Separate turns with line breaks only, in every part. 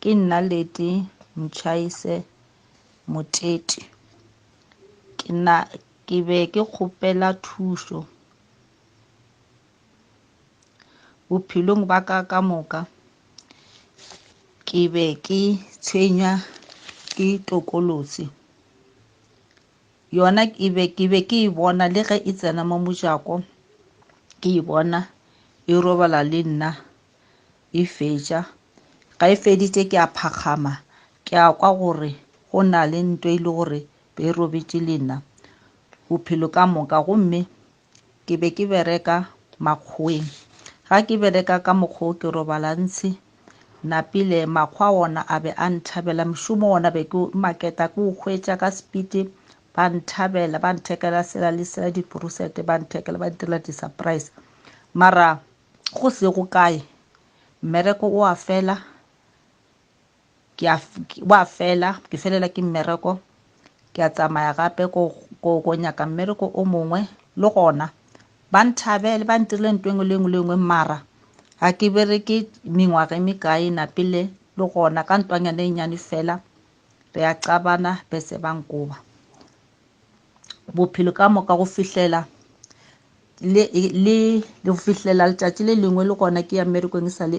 Ke nna Leti Mtshayise Moteti. Ke na ke be ke kgopela thušo bophelong ba ka ka moka. Ke be ke tshwenywa ke tokolosi yona ke be ke be ke e bona le ge e tsena mo mojako ke e bona e robala le nna Efetša ge e feditše ke a phakgama, ke a kwa gore go na le ntwa e le gore be e robetše le nna bophelo ka moka. Gomme ke be ke bereka makgoweng. Ga ke bereka ka mokgwa o ke robala ntshi napile. Makgwa ona a be a nthabela. Mošomo ona be ke maketa ke o hwetša ka sepiti. Ba nthabela, ba nthekela sela le sela, diporusete ba nthekela, ba ntirela di-surprise. Mara go sego kae mmereko o a fela ke a wa fela ke felela ke mmereko ke a tsamaya gape ko ko ko nyaka mmereko o mongwe le gona ba nthabele ba ntirile nto engwe le engwe le engwe mara ga ke bereke mengwaga e mekae na pele le gona ka ntwanyana e nyane fela re a qabana bese ba nkoba bophelo ka moka go fihlela le le le go fihlela letšatši le lengwe le gona ke ya mmerekong e sa le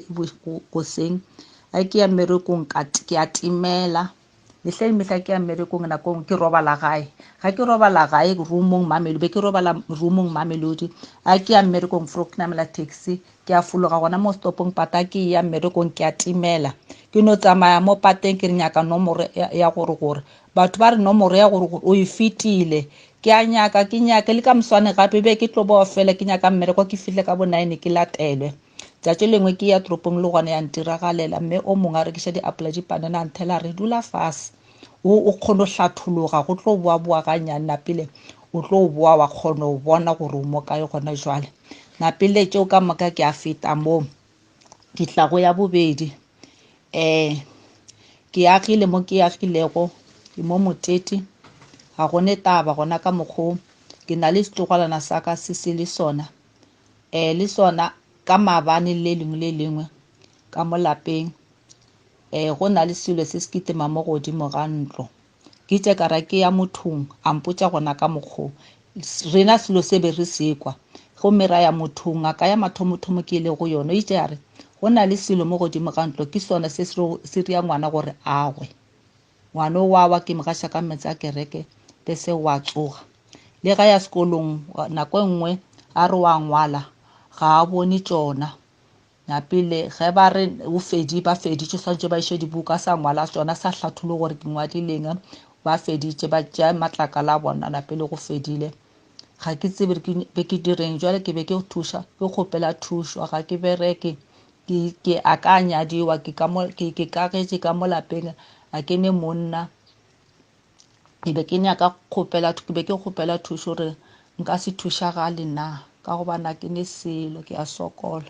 goseng a ke ya mmerekong ka ke a timela mehla le mehla ke ya mmerekong nako ngwe ke robala gae ga ke robala gae roomong mamelodi be ke robala roomong mamelodi a ke ya mmerekong fro ke namela taxi Ke a fologa gona mo setopong pata ke eya mmerekong ke a timela. Ke no tsamaya mo pateng ke re nyaka nomoro ya gore gore. Batho ba re nomoro ya gore gore o e fetile. Ke a nyaka ke nyake le ka moswane gape be ke tlo boa fela ke nyaka mmereko ke fihle ka bo nine ke latelwe. Tšatši lengwe ke ya toropong le gona ya ntiragalela mme o mongwe a rekiša diapola dipanana a nthela a re dula fase o o kgono hlathologa go tlo boa boa ganyane napile o tlo boa wa kgono bona gore o mo kae gona jwale. Napile tšeo ka moka ke a feta moo ke tla go ya bobedi um ke agile mo ke agilego ke mo motete ga gone taba gona ka mokgwa o ke na le setlogalana sa ka se se le sona um le sona ka maabane le lengwe le lengwe ka mo lapeng um go na le selo se se kitema mo godimo ga ntlo Ke itše ka ra ke ya mothong, a mpotša gona ka mokgo rena selo se be re se kwa. Gomme ra ya mothong, ngaka ya mathomothomo ke ile go yona. O itše ya re, Go na le selo mo godimo ga ntlo, ke sona se se ria ngwana gore a gwe. Ngwana o wa wa, ke mo gaša ka meetse a kereke, be se wa tsoga. Le ga ya sekolong, nako e nngwe a re wa ngwala, ga a bone tšona. Ya pele, ge ba re o fedi, ba feditše, swanetše ba iše dibuka, sa ngwala tšona, sa hlathule gore ke ngwadileng, ba feditše, ba tšea matlakala a bona, la pele go fedile. Ga ke tsebe ke be ke direng, jwale ke be ke thuša, ke kgopela thušo, ga ke bereke, ke, ke a ka nyadiwa, ke ka mo, ke, ke kagetše ka mo lapeng, a ke ne monna, ke be ke nyaka kgopela ke be ke kgopela thušo gore nka se thušagale na ka gobana ke ne selo ke a sokola